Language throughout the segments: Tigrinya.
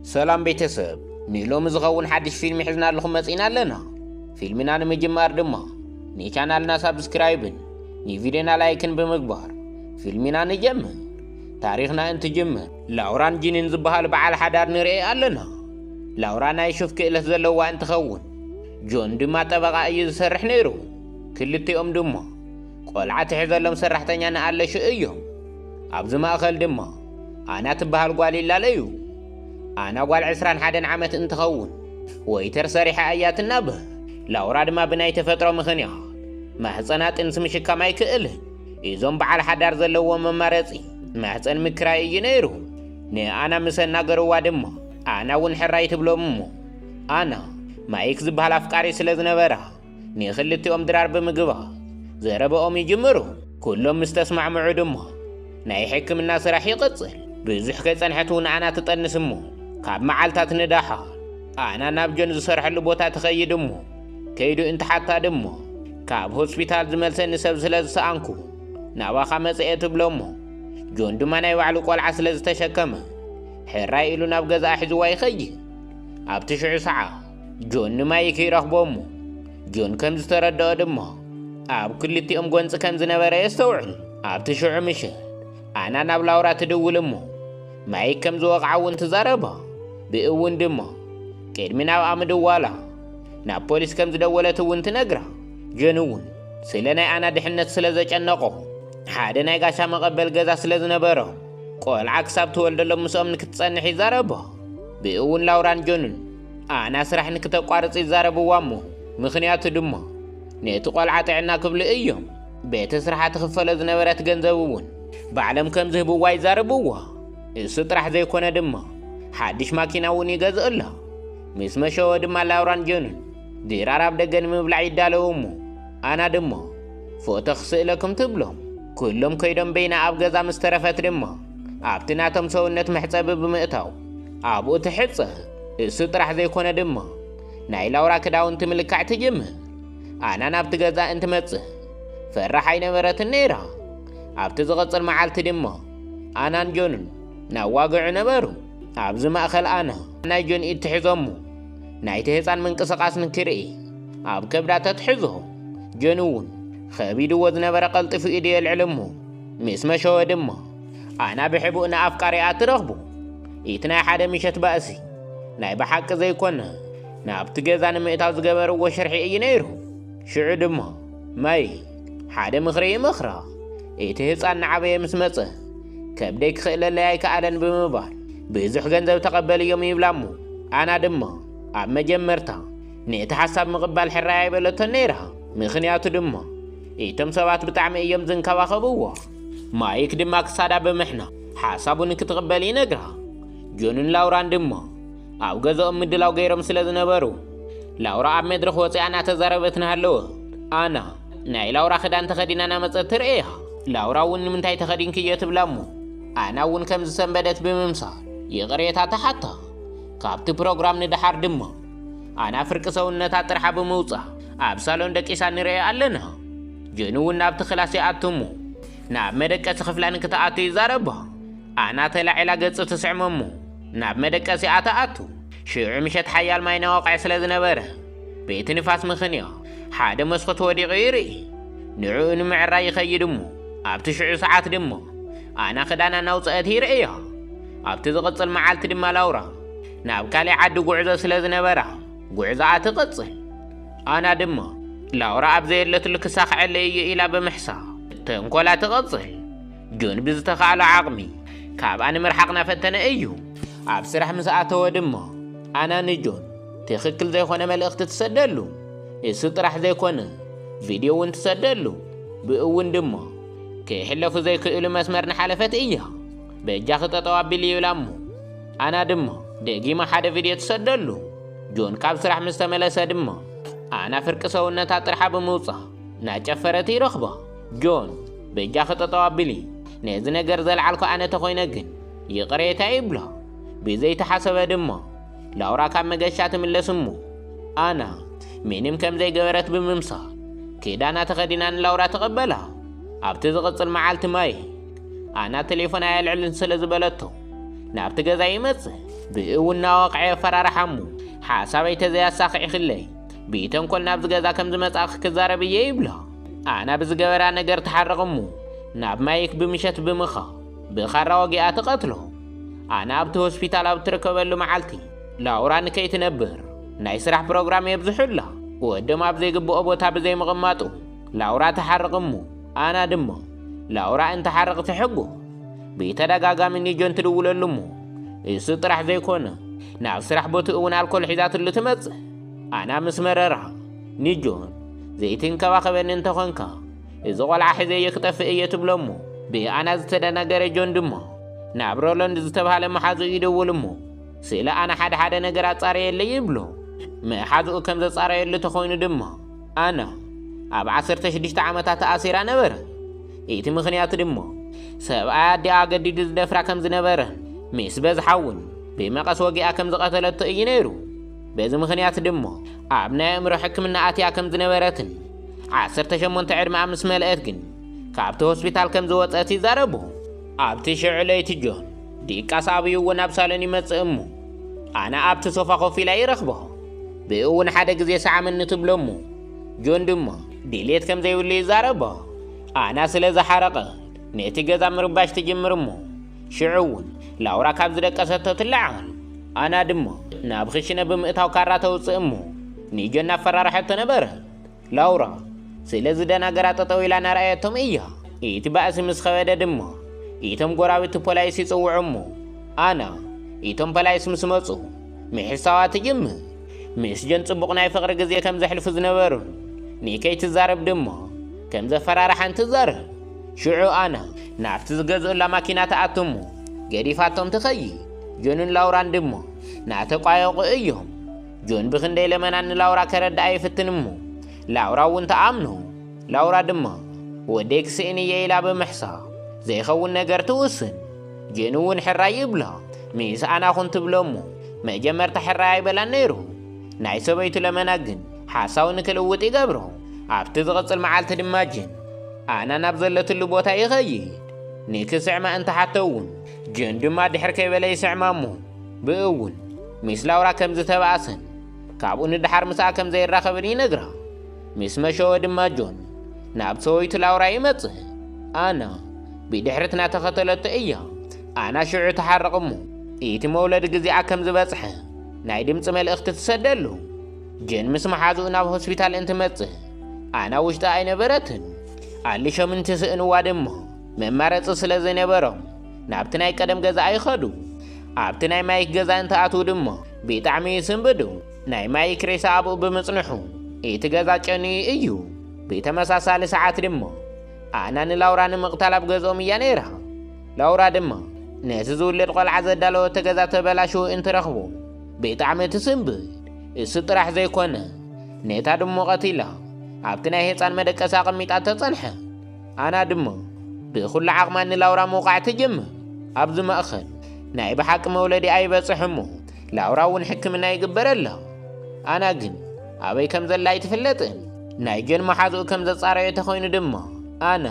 ሰላም ቤተሰብ ንሎሚ ዝኸውን ሓድሽ ፊልሚ ሒዝናልኹም መጺእና ኣለና ፊልምና ንምጅማር ድማ ንቻናልና ሳብስክራይብን ንቪድዮና ላይክን ብምግባር ፊልሚና ንጀምር ታሪኽና እንትጅምር ላውራን ጂንን ዝበሃል በዓል ሓዳር ንርኢ ኣለና ላውራ ናይ ሹፍ ክእለት ዘለዋ እንትኸውን ጆን ድማ ጠበቓ እዩ ዝሰርሕ ነይሩ ክልቲኦም ድማ ቆልዓ ትሕዘሎም ሰራሕተኛ ንኣለሹ እዮም ኣብዚ ማእኸል ድማ ኣና ትበሃል ጓል ይላለዩ ኣና ጓል ዕስራን ሓደን ዓመት እንትኸውን ወይተር ሰሪሓ እያ ትናብህ ላውራ ድማ ብናይ ተፈጥሮ ምኽንያት ማህፀና ጥንሲ ምሽካም ኣይክእልን እዞም በዓል ሓዳር ዘለዎ መማረፂ ማህፀን ምክራይ እዩ ነይሩ ንኣና ምስ ኣናገርዋ ድማ ኣና እውን ሕራይ ትብሎም እሞ ኣና ማይክ ዝበሃል ኣፍቃሪ ስለ ዝነበራ ንኽልቲኦም ድራር ብምግባር ዘረበኦም ይጅምሩ። ኩሎም ምስ ተስማዕምዑ ድማ ናይ ሕክምና ስራሕ ይቕጽል። ብዙሕ ከይጸንሐት እውን ኣና ትጠንስ እሞ ካብ መዓልታት ንደሓር ኣና ናብ ጆን ዝሰርሐሉ ቦታ ትኸይድ እሞ ከይዱ እንትሓታ ድማ ካብ ሆስፒታል ዝመልሰኒ ሰብ ስለ ዝሰኣንኩ ናባኻ መጽኤ ትብሎ እሞ ጆን ድማ ናይ ባዕሉ ቆልዓ ስለ ዝተሸከመ ሕራይ ኢሉ ናብ ገዛኣ ሒዝዋ ይኸይድ። ኣብቲ ሽዑ ሰዓ ጆን ንማይክ ይረኽቦ እሞ ጆን ከም ዝተረድኦ ድማ ኣብ ክልቲኦም ጎንፂ ከም ዝነበረ የስተውዕል ኣብቲ ሽዑ ምሽት ኣና ናብ ላውራ ትድውል እሞ ማይክ ከም ዝወቕዓ እውን ትዛረባ ብእውን ድማ ቅድሚ ናብኣ ምድዋላ ናብ ፖሊስ ከም ዝደወለት እውን ትነግራ ጆን እውን ስለ ናይ ኣና ድሕነት ስለ ዘጨነቆ ሓደ ናይ ጋሻ መቐበል ገዛ ስለ ዝነበሮ ቆልዓ ክሳብ ትወልደሎም ምስኦም ንክትፀንሕ ይዛረባ ብእውን ላውራን ጆንን ኣና ስራሕ ንክተቋርፅ ይዛረብዋ እሞ ምክንያቱ ድማ ነቲ ቆልዓ ጥዕና ክብሉ እዮም ቤተ ስርሓ ትኽፈሎ ዝነበረት ገንዘብ እውን ባዕሎም ከም ዝህብዋ ይዛረብዋ እሱ ጥራሕ ዘይኮነ ድማ ሓድሽ ማኪና እውን ይገዝእላ ምስ መሸወ ድማ ላውራን ጀኑን ድራር ኣብ ደገ ንምብላዕ ይዳለዉ እሞ ኣና ድማ ፎቶ ክስእለኩም ትብሎም ኩሎም ከይዶም በይና ኣብ ገዛ ምስ ተረፈት ድማ ኣብቲ ናቶም ሰውነት መሕፀቢ ብምእታው ኣብኡ ትሕጸብ። እሱ ጥራሕ ዘይኮነ ድማ ናይ ላውራ ክዳውንቲ ምልካዕ ትጅምር። ኣና ናብቲ ገዛ እንትመጽእ ፈራሕ ኣይነበረትን ነይራ። ኣብቲ ዝቕጽል መዓልቲ ድማ ኣናን ጆንን ናብ ዋግዑ ነበሩ። ኣብዚ ማእኸል ኣና ናይ ጆን ኢድ ትሕዞሞ ናይቲ ህፃን ምንቅስቓስ ንክርኢ ኣብ ከብዳ ተትሕዞ። ጆን እውን ኸቢድዎ ዝነበረ ቀልጢፉ ኢዱ የልዕል እሞ ምስ መሸወ ድማ ኣና ብሕቡእ ንኣፍቃሪኣ ትረኽቡ ኢቲ ናይ ሓደ ምሸት ባእሲ ናይ ብሓቂ ዘይኮነ ናብቲ ገዛ ንምእታው ዝገበርዎ ሽርሒ እዩ ነይሩ። ሽዑ ድማ ማይ ሓደ ምኽሪ ይመኽራ። እቲ ህፃን ንዓበየ ምስ መፀ ከብደይ ክኽእለለይ ኣይከኣለን ብምባል ብዙሕ ገንዘብ ተቐበልዮም ይብላ እሞ ኣና ድማ ኣብ መጀመርታ ነቲ ሓሳብ ምቕባል ሕራይ ኣይበለቶን ነይራ። ምኽንያቱ ድማ እቶም ሰባት ብጣዕሚ እዮም ዝንከባኸብዎ። ማይክ ድማ ክሳዳ ብምሕና ሓሳቡ ንክትቕበል ይነግራ። ጆንን ላውራን ድማ ኣብ ገዛኦም ምድላው ገይሮም ስለ ዝነበሩ ላውራ ኣብ መድረኽ ወፂኣ እናተዛረበት ናሃለወ ኣና ናይ ላውራ ክዳን ተኸዲና ናመፀት ትርእያ። ላውራ እውን ንምንታይ ተኸዲንክዮ ትብላ እሞ ኣና እውን ከም ዝሰንበደት ብምምሳል ይቕሬታ ተሓታ። ካብቲ ፕሮግራም ንደሓር ድማ ኣና ፍርቂ ሰውነታ ጥርሓ ብምውፃእ ኣብ ሳሎን ደቂሳ ንርእያ ኣለና። ጆኒ እውን ናብቲ ክላስ ይኣቱ እሞ ናብ መደቀሲ ክፍላ ንክትኣቱ ይዛረባ ኣና ተላዒላ ገጹ ትስዕሞ እሞ ናብ መደቀሲኣ ትኣቱ ሽዑ ምሸት ሓያል ማይ ነዋቕዐ ስለ ዝነበረ ቤቲ ንፋስ ምኽንያ ሓደ መስኮት ወዲቑ ይርኢ ንዕኡ ንምዕራይ ይኸይድ እሞ ኣብቲ ሽዑ ሰዓት ድማ ኣና ክዳና እናውፅአት ይርእያ ኣብቲ ዝቕፅል መዓልቲ ድማ ላውራ ናብ ካልእ ዓዲ ጉዕዞ ስለ ዝነበራ ጉዕዞኣ ትቕፅል ኣና ድማ ላውራ ኣብ ዘየለትሉ ክሳኽዐለይ እዩ ኢላ ብምሕሳብ ተንኮላ ትቕጽል። ጆን ብዝተኻእሎ ዓቕሚ ካብኣ ንምርሓቕ ናፈተነ እዩ። ኣብ ስራሕ ምስ ኣተወ ድማ ኣና ንጆን ትኽክል ዘይኮነ መልእኽቲ ትሰደሉ። እሱ ጥራሕ ዘይኮነ ቪድዮ እውን ትሰደሉ። ብእውን ድማ ከይሕለፉ ዘይክእሉ መስመር ንሓለፈት እያ። በጃኺ ጠጠው ኣቢሊ ይብላ እሞ ኣና ድማ ደጊመ ሓደ ቪድዮ ትሰደሉ። ጆን ካብ ስራሕ ምስ ተመለሰ ድማ ኣና ፍርቂ ሰውነታ ጥርሓ ብምውጻእ ናጨፈረት ይረኽባ። ጆን በጃኺ ጠጠው ኣቢሊ ነዚ ነገር ዘልዓልኩ ኣነ ተኾይነ ግን ይቕሬታ ይብላ። ብዘይተሓሰበ ድማ ላውራ ካብ መገሻ ትምለስ እሞ ኣና ምንም ከም ዘይገበረት ብምምሳል ክዳና ተኸዲና ንላውራ ተቐበላ። ኣብቲ ዝቕጽል መዓልቲ ማየ ኣና ቴሌፎን ኣየልዕልን ስለ ዝበለቶ ናብቲ ገዛ ይመጽእ ብእኡ እናወቕዐ የፈራርሓ እሞ ሓሳበይ ተዘያሳኺዕክለይ ብተንኮል ናብዚ ገዛ ከም ዝመጻእኺ ክዛረብ እየ ይብላ ኣና ብዝገበራ ነገር ትሓርቕ እሞ ናብ ማይክ ብምሸት ብምኻ ብኻራ ወጊኣ ትቐትሎ ኣና ኣብቲ ሆስፒታል ኣብ ትርከበሉ መዓልቲ ላውራ ንከይትነብር ናይ ስራሕ ፕሮግራም የብዝሑላ ወዶም ኣብ ዘይግብኦ ቦታ ብዘይምቕማጡ ላውራ ተሓርቕ እሞ ኣና ድማ ላውራ እንተሓርቕ ትሕጎ ብተደጋጋሚ ንጆን ትድውለሉ እሞ እሱ ጥራሕ ዘይኮነ ናብ ስራሕ ቦትኡ እውን ኣልኮል ሒዛትሉ ትመጽእ ኣና ምስ መረራ ንጆን ዘይትንከባኸበኒ እንተኾንካ እዚ ቆልዓ ሕዘዮ ክጠፍእ እየ ትብሎ እሞ ብኣና ዝተደናገረ ጆን ድማ ናብ ሮሎንድ ዝተባሃለ መሓዝኡ ይደውል እሞ ስለ ኣና ሓደ ሓደ ነገር ኣጻረየለይ ይብሎ መሓዝኡ ከም ዘጻረየሉ ተኾይኑ ድማ ኣነ ኣብ ዓሰርተ ሽዱሽተ ዓመታ ተኣሲራ ነበረ። እቲ ምኽንያት ድሞ ሰብኣይ ኣዲኣ ኣገዲዱ ዝደፍራ ከም ዝነበረ ምስ በዝሓ እውን ብመቐስ ወጊኣ ከም ዝቐተለቶ እዩ ነይሩ። በዚ ምኽንያት ድሞ ኣብ ናይ ኣእምሮ ሕክምና ኣትያ ከም ዝነበረትን ዓሰርተ ሸሞንተ ዕድመኣ ምስ መልአት ግን ካብቲ ሆስፒታል ከም ዝወፀት ይዛረቡ። ኣብቲ ሽዑ ለይቲ ጆን ድቃስ ኣብይዎ ናብ ሳሎን ይመጽእ እሞ ኣነ ኣብቲ ሶፋ ኮፍ ኢላ ይረኽቦ። ብእውን ሓደ ግዜ ሰዓመኒ ትብሎ እሞ ጆን ድማ ድሌት ከም ዘይብሉ ይዛረቦ። ኣና ስለ ዝሓረቐ ነቲ ገዛ ምርባሽ ትጅምር እሞ ሽዑ እውን ላውራ ካብ ዝደቀሰቶ ትለዓል። ኣና ድማ ናብ ክሽነ ብምእታው ካራ ተውፅእ እሞ ንጆን ኣፈራርሐቶ ነበረት። ላውራ ስለ ዝደናገራ ጠጠው ኢላ ናርኣየቶም እያ። እቲ ባእሲ ምስ ኸበደ ድማ እቶም ጎራብቲ ፖላይስ ይጽውዑ እሞ ኣና እቶም ፖላይስ ምስ መጹ ምሕሳዋ ትጅምር። ምስ ጀን ጽቡቕ ናይ ፍቕሪ ግዜ ከም ዘሕልፉ ዝነበሩን ንከይ ትዛረብ ድማ ከም ዘፈራርሓን ትዛረብ። ሽዑ ኣና ናብቲ ዝገዝኡላ ማኪና ትኣቱ እሞ ገዲፋቶም ትኸይድ። ጆንን ላውራን ድማ ናተቋየቑ እዮም። ጆን ብኽንደይ ለመናን ንላውራ ከረድኣ ይፍትን እሞ ላውራ እውን ትኣምኖ። ላውራ ድማ ወደይ ክስእን እየ ኢላ ብምሕሳብ ዘይኸውን ነገር ትውስን። ጆን እውን ሕራይ ይብላ ምስ ኣና ኹን ትብሎ እሞ መጀመርታ ሕራይ ኣይበላን ነይሩ። ናይ ሰበይቱ ለመና ግን ሓሳቡ ንክልውጥ ይገብሮ። ኣብቲ ዝቕጽል መዓልቲ ድማ ጆን ኣና ናብ ዘለትሉ ቦታ ይኸይድ። ንክስዕማ እንትሓቶ እውን ጆን ድማ ድሕር ከይበለ ይስዕማ እሞ ብእውን ሚስ ላውራ ከም ዝተባእሰን ካብኡ ንደሓር ምስኣ ከም ዘይራኸብን ይነግራ። ሚስ መሸወ ድማ ጆን ናብ ሰወይቱ ላውራ ይመጽእ። ኣና ብድሕርት ናተኸተለቶ እያ። ኣና ሽዑ ተሓርቕ እሞ ኢቲ መውለዲ ግዜኣ ከም ዝበጽሐ ናይ ድምጺ መልእኽቲ ትሰደሉ። ጀን ምስ መሓዝኡ ናብ ሆስፒታል እንትመጽእ ኣና ውሽጢ ኣይነበረትን። ኣሊሾም እንትስእንዋ ድማ መማረጺ ስለ ዘይነበሮም ናብቲ ናይ ቀደም ገዛኣ ይኸዱ። ኣብቲ ናይ ማይክ ገዛ እንትኣትዉ ድማ ብጣዕሚ ይስንብዱ። ናይ ማይክ ሬሳ ኣብኡ ብምጽንሑ እቲ ገዛ ጨንዩ እዩ። ብተመሳሳሊ ሰዓት ድማ ኣና ንላውራ ንምቕታል ኣብ ገዝኦም እያ ነይራ። ላውራ ድማ ነቲ ዝውለድ ቆልዓ ዘዳለወቶ ገዛ ተበላሽዉ እንትረኽቡ ብጣዕሚ ትስንብድ። እሱ ጥራሕ ዘይኮነ ነታ ድሙ ቀቲላ ኣብቲ ናይ ህፃን መደቀሲ ኣቐሚጣቶ ጸንሐ። ኣና ድማ ብኩሉ ዓቕማ ንላውራ ምውቓዕ ትጅምር። ኣብዚ ማእኸል ናይ ብሓቂ መውለዲኣ ይበፅሕ እሞ ላውራ እውን ሕክምና ይግበረላ። ኣና ግን ኣበይ ከም ዘላ ኣይትፍለጥን። ናይ ጆን መሓዝኡ ከም ዘፃረዮ ተኾይኑ ድማ ኣና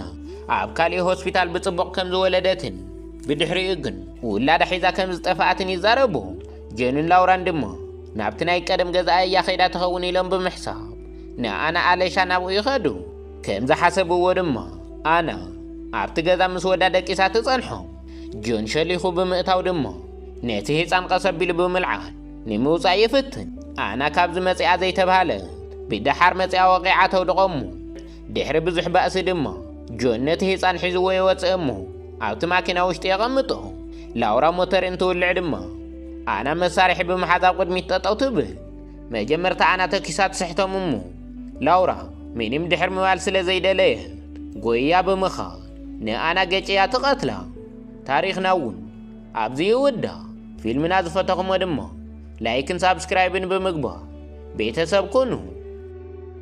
ኣብ ካሊእ ሆስፒታል ብፅቡቕ ከም ዝወለደትን ብድሕሪኡ ግን ውላዳ ሒዛ ከም ዝጠፍኣትን ይዛረቡ። ጆንን ላውራን ድማ ናብቲ ናይ ቀደም ገዛኣ እያ ከይዳ ትኸውን ኢሎም ብምሕሳብ ንኣና ኣለሻ ናብኡ ይኸዱ። ከም ዝሓሰብዎ ድማ ኣና ኣብቲ ገዛ ምስ ወዳ ደቂሳ ትጸንሖም። ጆን ሸሊኹ ብምእታው ድማ ነቲ ህጻን ቀስ ኣቢሉ ብምልዓል ንምውጻእ ይፍትን። ኣና ካብዚ መጺኣ ዘይተብሃለት ብደሓር መጺኣ ወቒዓ ተውድቖ እሞ ድሕሪ ብዙሕ ባእሲ ድማ ጆን ነቲ ህጻን ሒዝዎ ይወጽእ እሞ ኣብቲ ማኪና ውሽጢ የቐምጦ። ላውራ ሞተር እንትውልዕ ድማ ኣና መሳርሒ ብምሓዝ ኣብ ቅድሚት ጠጠው ትብል። መጀመርታ ኣና ተኪሳ ትስሕቶም እሞ ላውራ ምንም ድሕር ምባል ስለ ዘይደለየት ጎይያ ብምኻድ ንኣና ገጭያ ትቐትላ። ታሪኽና እውን ኣብዚ ይውዳእ። ፊልምና ዝፈተኹሞ ድማ ላይክን ሳብስክራይብን ብምግባር ቤተሰብ ኩኑ።